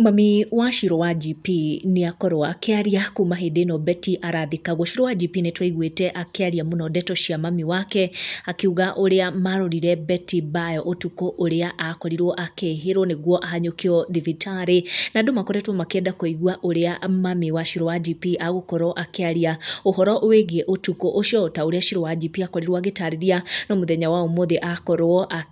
Mami wa Shirũ Wanjp nĩ akorwo akĩaria kuma hĩndĩ ĩno Betty arathikagwo. Shirũ Wanjp nĩ twaiguĩte akĩaria mũno ndeto cia mami wake, akiuga ũrĩa marorire Betty mbaara ũtukũ ũrĩa akorirwo akĩhĩrwo nĩguo ahanyũkio thibitarĩ. Na andũ makoretwo makĩenda kũigua ũrĩa mami wa Shirũ Wanjp agũkorwo akĩaria ũhoro wĩgiĩ ũtukũ ũcio, o ta ũrĩa Shirũ Wanjp akorirwo agĩtaarĩria, no mũthenya wa ũmũthĩ akorwo akĩ...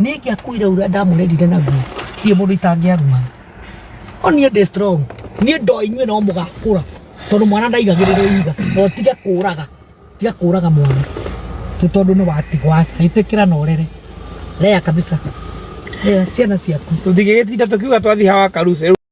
Niĩ ingĩakuire ũrĩa ndamũrerire naguo niĩ mũndũ itangĩaruma o niĩ ndĩ strong niĩ ndoa inyuĩ no mũgakũra tondũ mwana ndaigagĩrĩrwo iga no tige kũraga tige kũraga mwana tũ tondũ nĩ watigwo aca ĩtĩkĩra na ũrere rea kabisa rea ciana ciaku Tũtigĩgĩtinda tũkiuga twathiĩ hawa karuce.